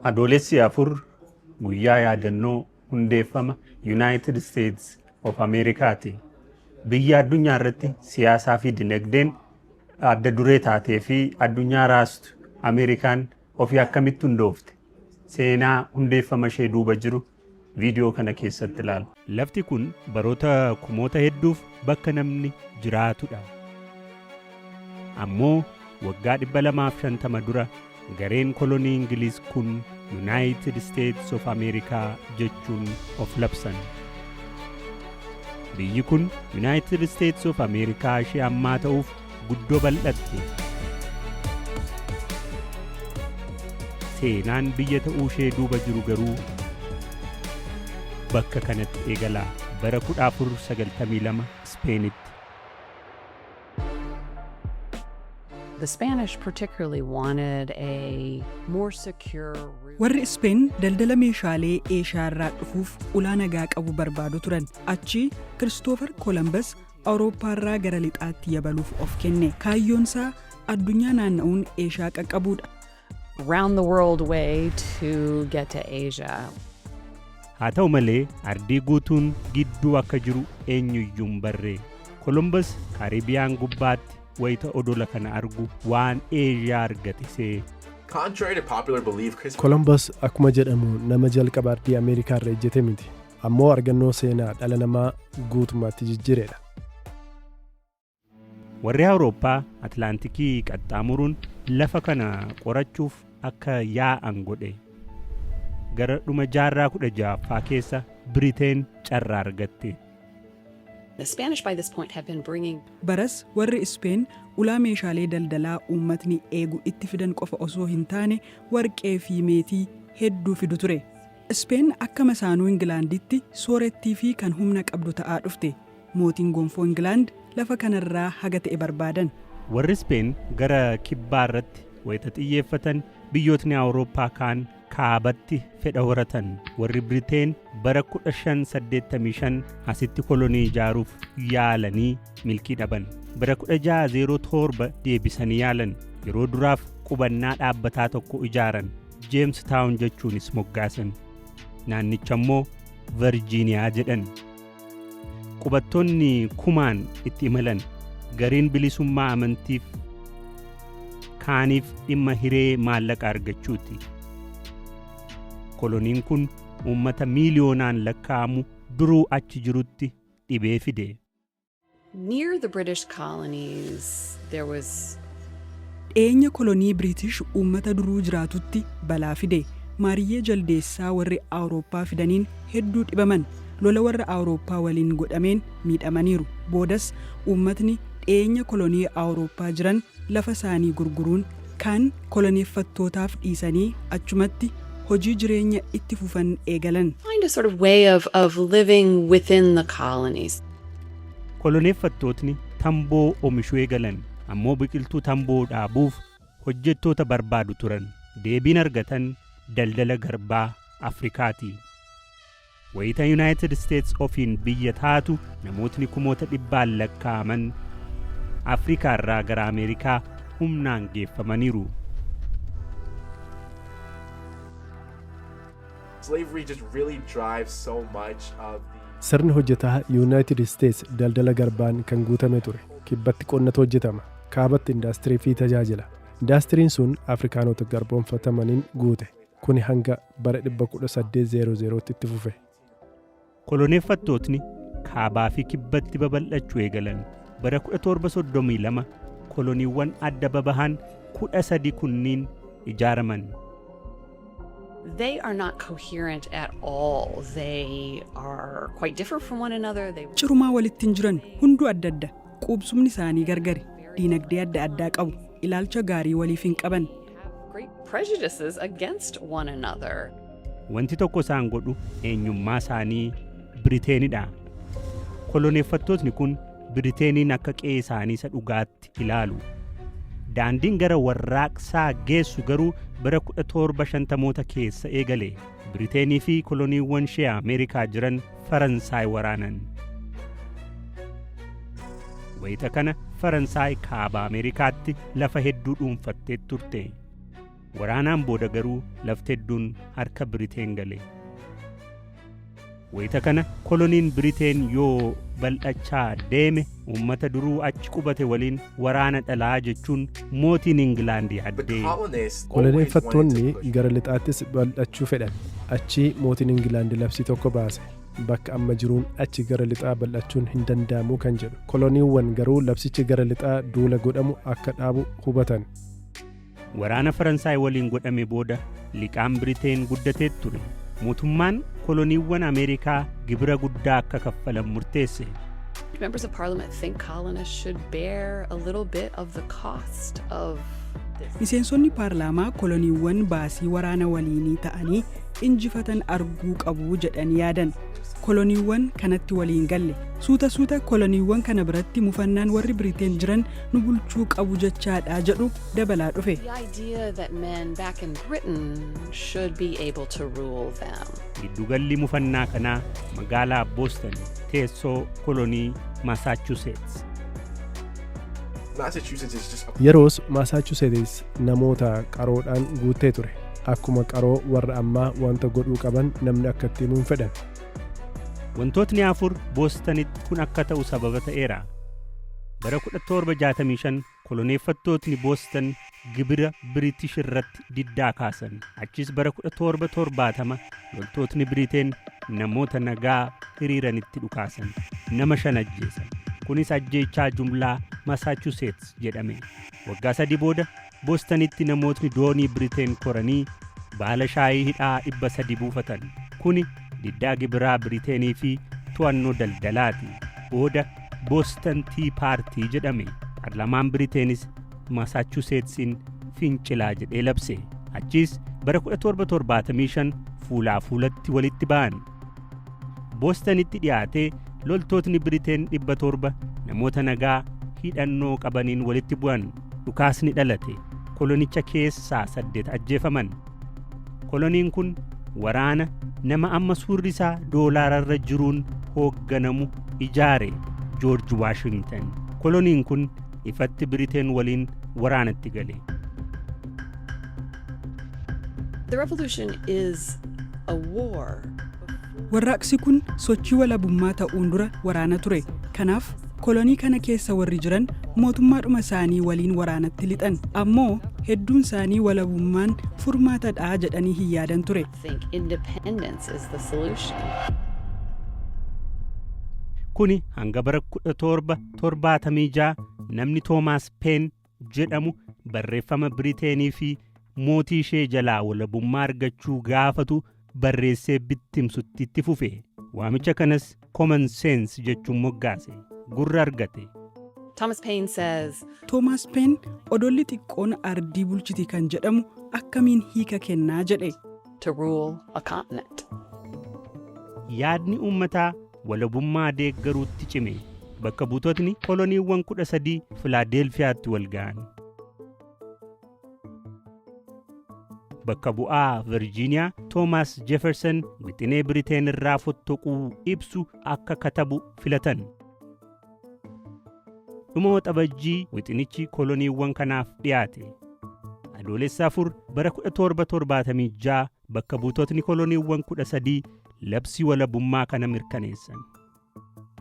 Adoolessi 4 guyyaa yaadannoo hundeeffama Yunaayitid Isteets of Ameerikaati. Biyya addunyaa irratti siyaasaa fi dinagdeen adda duree taatee fi addunyaa raastu Ameerikaan ofii akkamitti hundoofte? Seenaa hundeeffama ishee duuba jiru viidiyoo kana keessatti ilaala. Lafti kun baroota kumoota hedduuf bakka namni jiraatudha. Ammoo waggaa 250 dura gareen kolonii Ingiliiz kun Yunaayitid Isteets of Ameerikaa jechuun of labsan. Biyyi kun Yunaayitid Isteets of Ameerikaa ishee ammaa ta'uuf guddoo bal'atte. Seenaan biyya ta'uu ishee duuba jiru garuu bakka kanatti eegala. Bara 1492 Ispeenitti. The Spanish particularly wanted a more secure route. Warri Ispeen daldala meeshaalee Eeshiyaa irraa dhufuuf ulaa nagaa qabu barbaadu turan. Achi Kiristoofar Kolambas Awurooppaarraa gara lixaatti yabaluuf of kenne. Kaayyoonsaa addunyaa naanna'uun Eeshaa qaqqabuudha. round the world way to get to Asia. Haa ta'u malee ardii guutuun gidduu akka jiru eenyuyyuu hin barre. Kolombas Kaaribiyaan gubbaatti wayita odola kana argu waan Eeshiyaa argate se'e. Contrary to popular belief, Chris Kolombos akkuma jedhamu nama jalqaba ardii Ameerikaarra ejjete miti. ammoo argannoo seenaa dhala namaa guutummaatti jijjiireedha. Warri Awurooppaa Atlaantikii qaxxaamuruun lafa kana qorachuuf akka yaa'an godhe. Gara dhuma jaarraa 16ffaa keessa Biriteen carraa argatte. The Spanish by this point have been bringing Baras warri Ispeen ulaa meeshaalee daldalaa uummatni eegu itti fidan qofa osoo hin taane warqee fi meetii hedduu fidu ture. Ispeen akka masaanuu Ingilaanditti soorettii fi kan humna qabdu ta'aa dhufte. Mootiin gonfoo Ingilaand lafa kanarraa haga ta'e barbaadan. Warri Ispeen gara kibbaa irratti wayita xiyyeeffatan, biyyootni Awurooppaa kaan kaabatti fedha horatan. Warri Biriteen bara 1585 asitti kolonii ijaaruuf yaalanii milkii dhaban. Bara 1607 deebisanii yaalan. Yeroo duraaf qubannaa dhaabbataa tokko ijaaran. Jeems Taawun jechuunis moggaasan. Naannicha immoo Varjiiniyaa jedhan. Qubattoonni kumaan itti imalan gariin bilisummaa amantiif kaaniif dhimma hiree maallaqa argachuuti. Koloniin kun uummata miiliyoonaan lakkaa'amu duruu achi jirutti dhibee fide. Near the British colonies there was. Dhiyeenya kolonii Biriitish uummata duruu jiraatutti balaa fide. Maariyyee jaldeessaa warri Awurooppaa fidaniin hedduu dhibaman. Lola warra Awurooppaa waliin godhameen miidhamaniiru. Boodas uummatni dhiyeenya kolonii Awurooppaa jiran lafa isaanii gurguruun kaan koloneeffattootaaf dhiisanii achumatti hojii jireenya itti fufan eegalan. find a sort of way of of living within the colonies. Koloneeffattootni tamboo omishuu eegalan ammoo biqiltuu tamboo dhaabuuf hojjettoota barbaadu turan. Deebiin argatan daldala garbaa Afrikaati. Wayita Yunaayitid Isteets ofiin biyya taatu namootni kumoota dhibbaan lakkaa'aman Afrikaarraa gara Ameerikaa humnaan geeffamaniiru. Sirni hojjetaa Yuunaayitid Isteets daldala garbaan kan guutame ture. Kibbatti qonnatu hojjetama. Kaabatti indaastirii fi tajaajila. Indaastiriin sun Afrikaanota garboomfatamaniin guute. Kuni hanga bara 1800tti itti fufe. Koloneeffattootni kaabaa fi kibbatti babal'achuu eegalan. Bara 1732 koloniiwwan adda babahan 13 kunniin ijaaraman. They are not coherent at all. They are quite different from one another. They Cirumaa walitti hin jiran, hunduu adda adda. Quubsumni isaanii gargari. Diinagdee adda addaa qabu. Ilaalcha gaarii waliif hin qaban. Wanti tokko isaan godhu eenyummaa isaanii Biriteenidha. Koloneeffattootni kun Biriteeniin akka qe'ee isaanii isa dhugaatti ilaalu. Daandiin gara warraaqsaa geessu garuu bara 1750moota keessa eegale. Biriteenii fi koloniiwwan ishee Ameerikaa jiran Faransaay waraanan. Wayita kana Faransaay kaaba Ameerikaatti lafa hedduu dhuunfattee turte. Waraanaan booda garuu lafti hedduun harka Biriteen gale. Wayita kana koloniin Biriteen yoo bal'achaa deeme Uummata duruu achi qubate waliin waraana dhalaa jechuun mootiin Ingilaand yaaddee. Koloneeffattoonni gara lixaattis bal'achuu fedhan. Achii mootiin Ingilaand labsii tokko baase. Bakka amma jiruun achi gara lixaa bal'achuun hin danda'amu kan jedhu. Koloniiwwan garuu labsichi gara lixaa duula godhamu akka dhaabu hubatan. Waraana Faransaay waliin godhame booda liqaan Biriteen guddatee ture. Mootummaan koloniiwwan Ameerikaa gibira guddaa akka kaffalan murteesse. Members of Parliament think colonists should bear a little bit of the cost of this. Miseensonni paarlaamaa koloniiwwan baasii waraana waliinii ta'anii injifatan arguu qabu jedhanii yaadan. Koloniiwwan kanatti waliin galle. Suuta suuta koloniiwwan kana biratti mufannaan warri Biriteen jiran nu bulchuu qabu jechaadha jedhu dabalaa dhufe. The idea that men back in Britain should be able to rule them. Giddugalli mufannaa kanaa magaalaa Booston teessoo kolonii Masaachuseets. Massachusetts is just a Yeroos Masaachuseetis namoota qaroodhaan guuttee ture. Akkuma qaroo warra ammaa wanta godhuu qaban namni akka itti himu hin fedhan. Wantootni afur Boostanitti kun akka ta'u sababa ta'eera. Bara 1765 koloneeffattootni Boostan gibira Biriitish irratti diddaa kaasan. Achiis bara 1770 loltootni Biriteen namoota nagaa hiriiranitti dhukaasan. Nama shan ajjeesan. Kunis ajjeechaa jumlaa Masaachuseets jedhame. Waggaa sadii booda Bostanitti namootni doonii Biriteen koranii baala shaayii hidhaa 300 buufatan. Kuni diddaa gibiraa Biriteenii fi to'annoo daldalaati. Booda Boston Tii Paartii jedhame. Parlamaan Biriteenis Masaachuseetsiin fincilaa jedhee labse. Achiis bara 1775 fuulaa fuulatti walitti ba'an. Boostanitti dhiyaatee loltootni Biriteen dhibba torba namoota nagaa hidhannoo qabaniin walitti bu'an. Dhukaasni dhalate. Kolonicha keessaa saddeet ajjeefaman. Koloniin kun waraana nama amma suurri isaa doolaararra jiruun hoogganamu ijaare Joorji Waashingtan. Koloniin kun ifatti Biriteen waliin waraanatti gale. The revolution is a war. Warraaqsi kun sochii walabummaa ta'uun dura waraana ture. Kanaaf kolonii kana keessa warri jiran mootummaadhuma isaanii waliin waraanatti lixan. Ammoo hedduun isaanii walabummaan furmaata dha jedhanii hin yaadan ture. Think independence is the solution. Kuni hanga bara 1776 namni Toomaas Peen jedhamu barreeffama Biriteenii fi mootii ishee jalaa walabummaa argachuu gaafatu barreessee bittimsutti itti fufe. Waamicha kanas common sense jechuun moggaase. Gurra argate. Thomas Paine says, Toomaas Peen odolli xiqqoon ardii bulchiti kan jedhamu akkamiin hiika kennaa jedhe. to rule a continent. Yaadni uummataa walabummaa deeggaruutti cime. Bakka buutotni koloniiwwan 13 Filaadeelfiyaatti wal ga'an. Bakka bu'aa Virjiiniyaa Toomaas Jefersan wixinee Biriteen irraa fottoquu ibsu akka katabu filatan. Dhuma waxabajjii wixinichi koloniiwwan kanaaf dhiyaate. Adoolessa 4 bara 1776 Bakka buutotni koloniiwwan 13 labsii walabummaa kana mirkaneessan.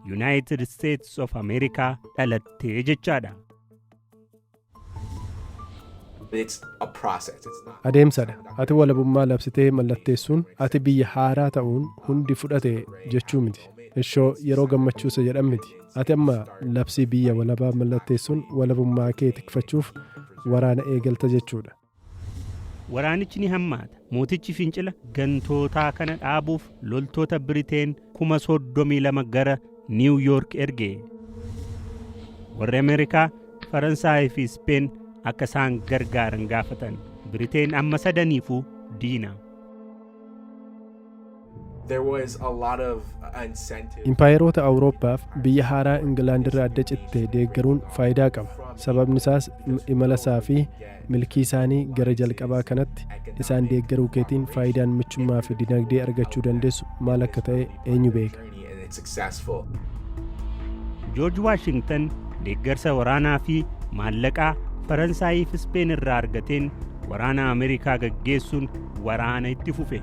Yunaayitid Isteetis of Ameerikaa dhalattee jechaadha. It's a process. It's not. Adeemsadha. Ati walabummaa labsitee mallatteessuun ati biyya haaraa ta'uun hundi fudhate jechuu miti. Ishoo yeroo gammachuusa jedhan miti. Ati amma labsii biyya walabaa mallatteessuun walabummaa kee tikfachuuf waraana eegalta jechuudha. Waraanichi ni hammaata. Mootichi fincila gantootaa kana dhaabuuf loltoota Biriteen 32,000 gara Niiw Yoork erge. Warri Ameerikaa, Faransaayii fi Ispeen akka isaan gargaaran gaafatan. Biriteen amma sadaniifuu diina. There was a lot of incentive. Impaayeroota Awurooppaaf biyya haaraa Ingilaand irraa adda citte deeggaruun faayidaa qaba. Sababni isaas m- imala isaa fi milkii isaanii gara jalqabaa kanatti isaan deeggaruu keetiin faayidaan michummaa fi dinagdee argachuu dandeessu maal akka ta'e eenyu beeka. Joorj Waashingtan deeggarsa waraanaa fi maallaqaa Faransaayii fi Ispeen irraa argateen waraana Ameerikaa gaggeessuun waraana itti fufe.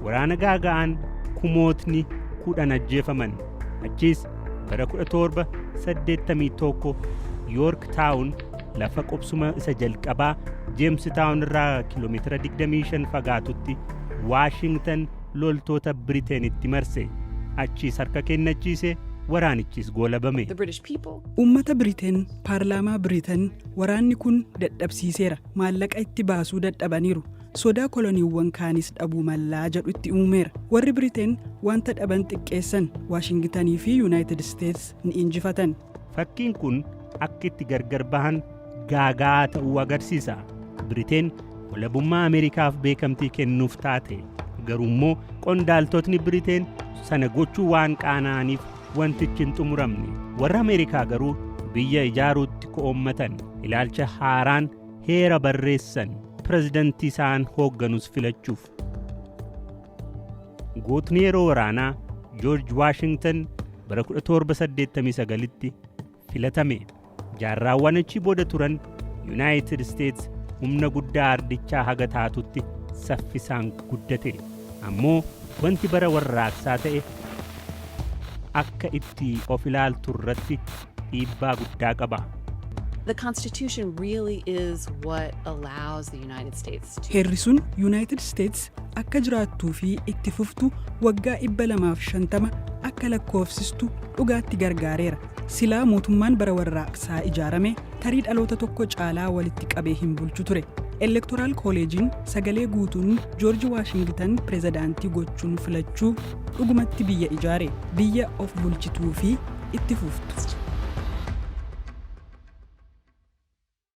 Waraana gaaga'aan kumootni kudhan ajjeefaman. Achiis bara 1781 Yoork Taawun lafa qubsuma isa jalqabaa Jeems Taawun irraa kiiloomeetira 25 fagaatutti Waashingtan loltoota Biriteenitti marse. Achiis harka kennachiise, waraanichis goolabame. Uummata Biriteen, paarlaamaa Biriteen waraanni kun dadhabsiiseera, maallaqa itti baasuu dadhabaniiru, sodaa koloniiwwan kaanis dhabuu mallaa jedhu itti uumeera. Warri Biriteen wanta dhaban xiqqeessan, Waashingitanii fi Yuunaayitid Isteets ni injifatan. Fakkiin kun akka itti gargar bahan gaaga'aa ta'uu agarsiisa. Biriteen walabummaa Ameerikaaf beekamtii kennuuf taate. Garuu immoo qondaaltotni Biriteen sana gochuu waan qaana'aniif wantichi hin xumuramne. Warra Ameerikaa garuu biyya ijaaruutti ko'oommatan. Ilaalcha haaraan heera barreessan. Pirezidantii isaan hoogganus filachuuf. Gootni yeroo waraanaa Joorj Waashingtan bara 1789tti filatame. Jaarraawwan achi booda turan Yuunaayitid Isteets humna guddaa ardichaa haga taatutti saffisaan guddate. Ammoo wanti bara warraaqsaa ta'e akka itti of ilaaltu irratti dhiibbaa guddaa qaba. The Constitution really is what allows the United States to Heerri sun Yuunaayitid Isteets akka jiraattuu fi itti fuftu waggaa 250 akka lakkoofsistu dhugaatti gargaareera. Silaa mootummaan bara warraaqsaa ijaarame tarii dhaloota tokko caalaa walitti qabee hin bulchu ture. Elektoraal kooleejiin sagalee guutuun Joorji Waashingitan pirezidaantii gochuun filachuu dhugumatti biyya ijaare, biyya of bulchituu fi itti fuftu.